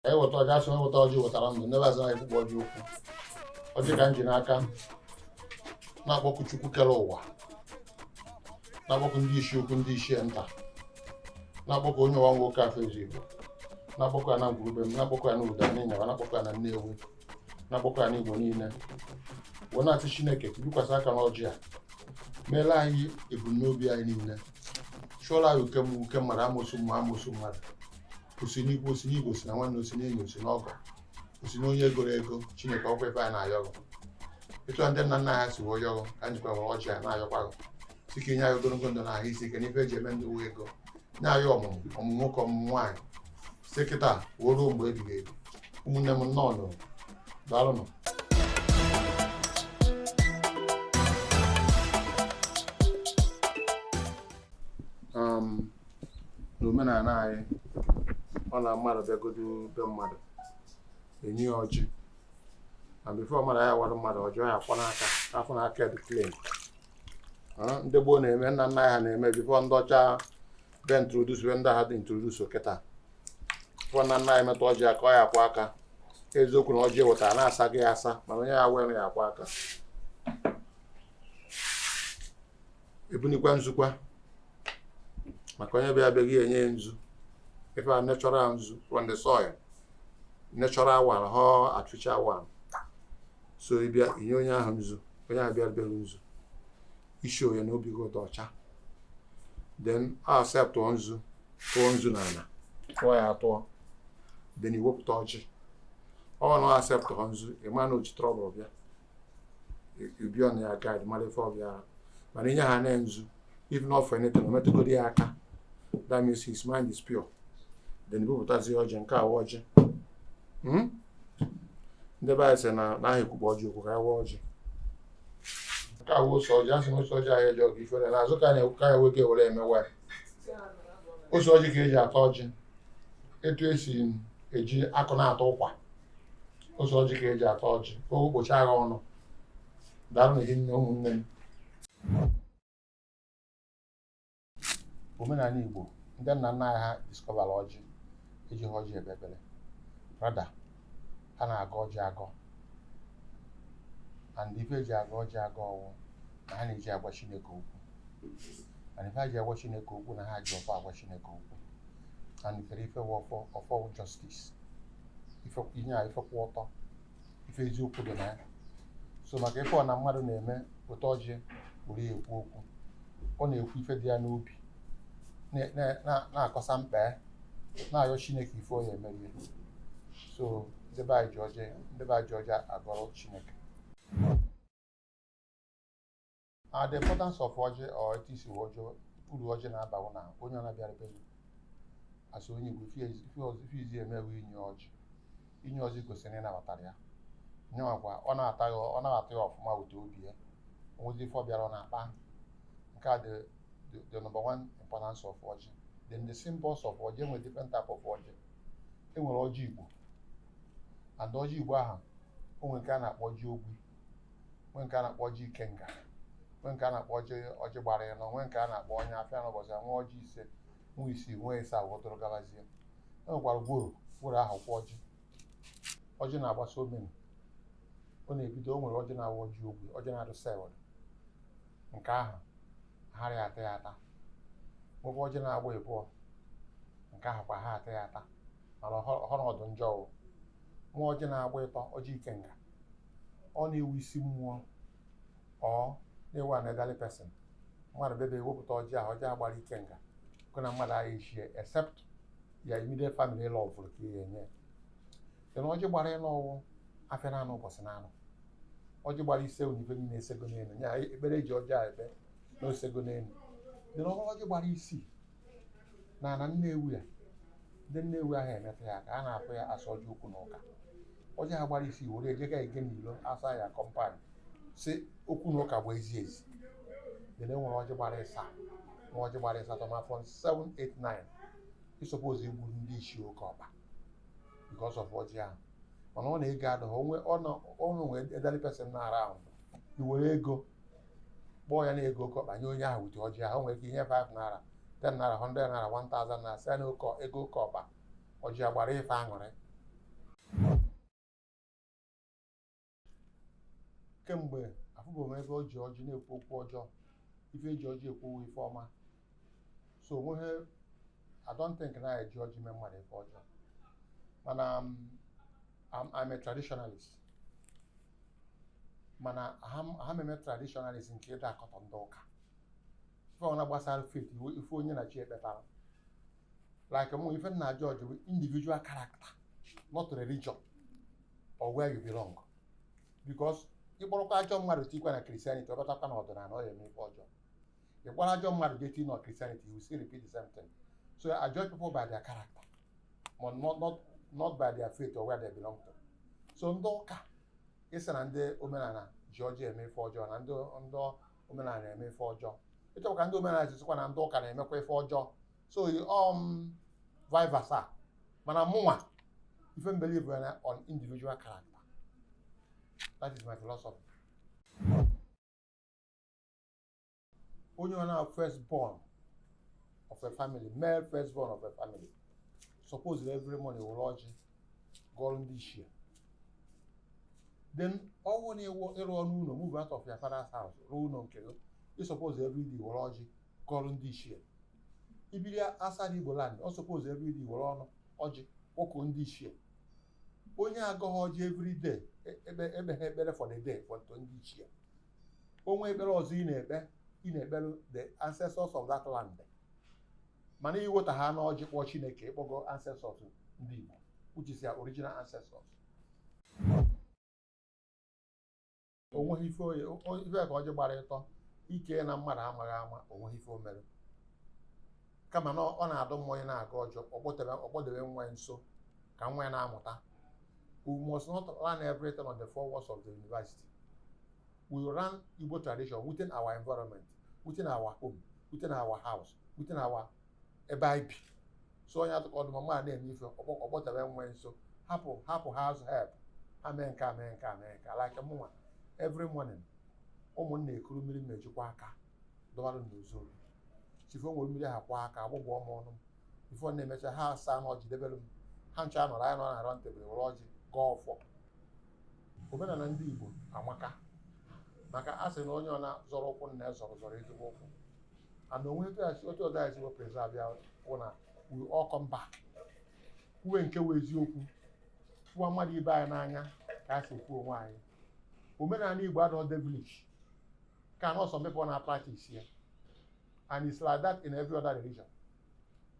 anyị weta ọjị asị onye weta ọjị wetara ndụ ndị be anyị sị na aha ekwukpo ọjị okwu ọjị ka m ji n'aka na-akpọku chukwu kere ụwa na-akpọku ndị isi ukwu ndị isi nta na-akpọku onye ọwa nwoke afọ ezi igbo na-akpọku ya na ngwuru be m na-akpọku ya na ụda n'ịnyaba na-akpọku ya na nnewi na-akpọku ya n'igbo niile wee na-asị chineke bikwasị aka n'ọjị a meela anyị ebumnobi anyị niile chụọla anyị uke mmụọ uke mmadụ amosu mmụọ amosu mmadụ osi n'ikwu osi n'ibe osi na nwanne osi n'enyi osi n'ọgọ osi n'onye egoro ego chineke ọkwa ebe anyị na-ayọ ghụ etu ndị nna nna ha si wee yọ ghụ ka anyị jikwa were ọjị a na-ayọkwa ghụ sị ka inye anyị ogologo ndụ na ahụ isi ike n'ife eji eme ndụ wụ ego na-ayọ ọmụmụ ọmụmụ nwoke ọmụmụ nwaanyị si kịta wee ruo mgbe ebighị ebi ụmụnne m nnọọnụ daalụnụ um, n'omenala anyị ọ na mmadụ bịagodo be mmadụ enye ya ọjị before mmadụ ya awara mmadụ ọjị ọ ya afụ n'aka afụ n'aka dị clean ndị gboo na-eme nna nna anyị ha na-eme before ndị ọcha bịa introduce bịa ndị ahụ dị introduce kịta before nna nna anyị emetụ ọjị aka ọ ya akwọ aka eziokwu na ọjị ewetara na asago ya asa mana onye ya ewere ya akwọ aka ebunikwa nzukwa maka onye bịa be gị enye ya nzu ife a natural nzu from the soil natural one họ artificial one so ịbịa inye onye ahụ nzu onye ahụ bịara be gị nzu ị sị ya na obi gị dị ọcha then acceptụọ nzu tụọ nzu na ala tụọ ya atụọ then iwepụta ọjị ọ na accept họ nzu ịma na oji trouble bịa you be on your guard mara ife ọ bịara mana inye ha na nzu if not for anything o metụgodi ya aka that means his mind is pure then iwepụtazi ọjị nke a awa ọjị hmm? ndị be anyị sị na aha ekwukpo ọjị okwu ka a waa ọjị nke a wụ ose ọjị asị na ose ọjị aha eje ọgụ ifere na azụ ka na-ekwu ka ya weke were emewa ya ose ọjị ka eji ata ọjị etu esi eji akụ na-ata ụkwa ose ọjị ka eji ata ọjị ka o gbochi agha ọnụ daalụnụ hinne ụmụnne m omenala Igbo ndị nna nna anyị ha discovera ọjị eji ha ọjị ekpe ekpere rather ha na-agọ ọjị agọ and ife eji agọ ọjị agọ ọwụ na ha na-eji agwa Chineke okwu and ife ha ji agwa Chineke okwu na ha ji ọfọ agwa Chineke okwu and kere ife wụ ọfọ ọfọ wụ justice ife inye a ife kwụ ọtọ ife eziokwu dị na ya so maka ife ọna mmadụ na-eme wute ọjị were ya ekwu okwu ọ na-ekwu ife dị ya n'obi na-akọsa mkpa ya na-ayọ chineke ife ọ ya-emere ya so ndị be ndị be anyị ji ọjị agọrọ chineke Uh, the importance of ọjị or etu esi ọjị, uru ọjị na-aba wụ na onye ọna bịara be gị as onye Igbo ife izi eme wụ inye ọjị inye ọjị gosiri ịnabatara ya nyewakwa ọ na-ata ya ọ na-ata ya ọfụma ụtọ obi ya onwezi ife ọ bịara ọ na-akpa nke a the the number one importance of ọjị then the symbols of ọjị enwere different type of ọjị enwere ọjị Igbo and ọjị Igbo ahụ onwe nke a na-akpọ ọjị ogbi nwee nke a na-akpọ ọjị ikenga nwee nke a na-akpọ ọjị gbara ịnọ nwee nke a na-akpọ ọnya afịa n'ụbọchị nwee ọjị ise nwee isii nwee ịsaa weduru gabazie e nwekwara gworo gworo ahụ kwa ọjị ọjị na-agbasa omenu ọ na-ebido o nwere ọjị na-awụ ọjị ogbi ọjị na-adụ sealed nke ahụ a hara ata ya ata nwekwa ọjị na-agba ịbụọ nke ahụ kwa a ha ata ya ata mana ọ na-adụ njọ ọ wụ nwa ọjị na-agba ịtọ ọjị ikenga ọ na-ewu isi mmụọ ọ na-ewu an elderly person mmadụ bebe ewepụta ọjị ahụ ọjị agbara ikenga gị na mmadụ agha echie except your immediate family ịlọ ọ bụrụ ka ihe enye then ọjị gbara ịnọ ọ wụ afịa na anọ ụbọchị na anọ ọjị gbara ise wụ ife niile esego n'elu ya ekpere e ji ọjị a ekpe na osego n'elu then ọ wụrụ ọjị gbara isii na ana Nnewi a ndị Nnewi aha emeta ya aka a na-akpọ ya a sị ọjị okwu na ụka ọjị ahụ gbara isii were ejega ege n'ilo outside your compound sị okwu na ụka pụa ezi ezi then e nwere ọjị gbara ịsaa nwee ọjị gbara ịsatọ ma from 7 8 9 ị suppose igburu ndị isi oke ọkpa because of ọjị ahụ mana ọ na ego adịghị o nwee elderly person nọ around i were ego kpọọ ya na ego oke ọkpa nye onye ahụ wute ọjị ahụ nwere ike inye 5 naira 10 naira 100 naira 1000 naira sị ya na oke ego oke ọkpa ọjị a gbara ife aṅụrị kemgbe afụbụghị m ebe e ji ọjị na-ekwu okwu ọjọọ ife eji ọjị ekwu wụ ife ọma so onweghị I don't think na anyị ji ọjị mee mmadụ ife ọjọọ mana um, I'm, I'm a traditionalist mana aha m eme traditionalist nke ịna-akọtọ ndị ụka ife ọna gbasara faith ife onye na chi ya kpetara like mụ ife m na-a-judge bụ individual character not religion or where you belong because ịkpọrọkwa ajọ mmadụ tikwa na Christianity ọ batakwa na ọdịnala ọ ya-eme ife ọjọọ ị kpọrọ ajọ mmadụ jee tinye na Christianity you still repeat the same thing so I judge people by their character ma not not not by their faith or where they belong to so ndị ụka ịsị na ndị omenala ji ọjị eme ife ọjọọ na ndị ndị omenala na-eme ife ọjọọ ịchọkwa ka ndị omenala ịsịkwa na ndị ụka na-emekwa ife ọjọọ so um vice versa mana mụnwa ife m believe on individual character that is my philosophy onye ọwụna wụ first born of a family male first born of a family suppose every morning were ọjị gọọrọ ndị ichie then ọ wụrụ na ị rụọna ụlọ move out of your father's house rụọ ụlọ nke gị ị suppose every day were ọjị gọọrọ ndị ichie i biri outside igbo land ị suppose every day were ọnụ ọjị kpọkuo ndị ichie onye agọghị ọjị every day e- ekpebeghị ekpere for the day for ndị ichie o nwee ekpere ọzọ ị na-ekpe ị na-ekpere the ancestors of that land mana i weta ọnụ ọjị kpọọ chineke ị kpọgo ancestors ndị igbo which is their original ancestors o nweghị ife oye o- o- ife ka ọjị gbara ịtọ ike na mmadụ amaghị ama o nweghị ife o mere kama na ọ ọ na-adụ mma onye na-agọ ọjị ọ kpọdebe ọ kpọdebe nwa ya nso ka nwa ya na-amụta we must not learn everything on the four walls of the university we learn igbo tradition within our environment within our home within our house within our ebe anyị bi so onye atụkọ ọ dụ mma ma a na-eme ife ọ kpọ- ọ kpọta nwa ya nso hapụ hapụ house help ha mee nke a mee nke a mee nke a like mụnwa every morning ụmụ m na-ekuru mmiri m ji akwọ aka dọwara m n'ụzọ obi chi fo m were mmiri ahụ kwọọ aka agbụgbọ m ọnụ m ife ọ na-emecha ha asaa ọnụ ọjị debere m ha ncha nọrọ anyị nọ na round table were ọjị gọọ ọfọ omenala ndị Igbo amaka maka a sị na onye ọwụna zọrọ ụkwụ nna ya zọrọ zọrọ ezigbo ụkwụ and o nwe etu ya si- otu ụzọ anyị si e preserve ya wụ na we all come back kwuwe nke wụ eziokwu hụwa mmadụ ibe anyị n'anya ka anyị si hụ onwe anyị omenala igbo adịghị devilish ka na some people na practice ya and it's like that in every other religion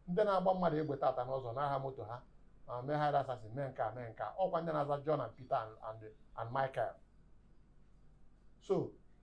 ndị na-agba mmadụ egbe tata n'ụzọ nara ha moto ha ma mee hired assassin mee nke a mee nke a ọ kwa ndị na-aza John and Peter and, and, and Michael so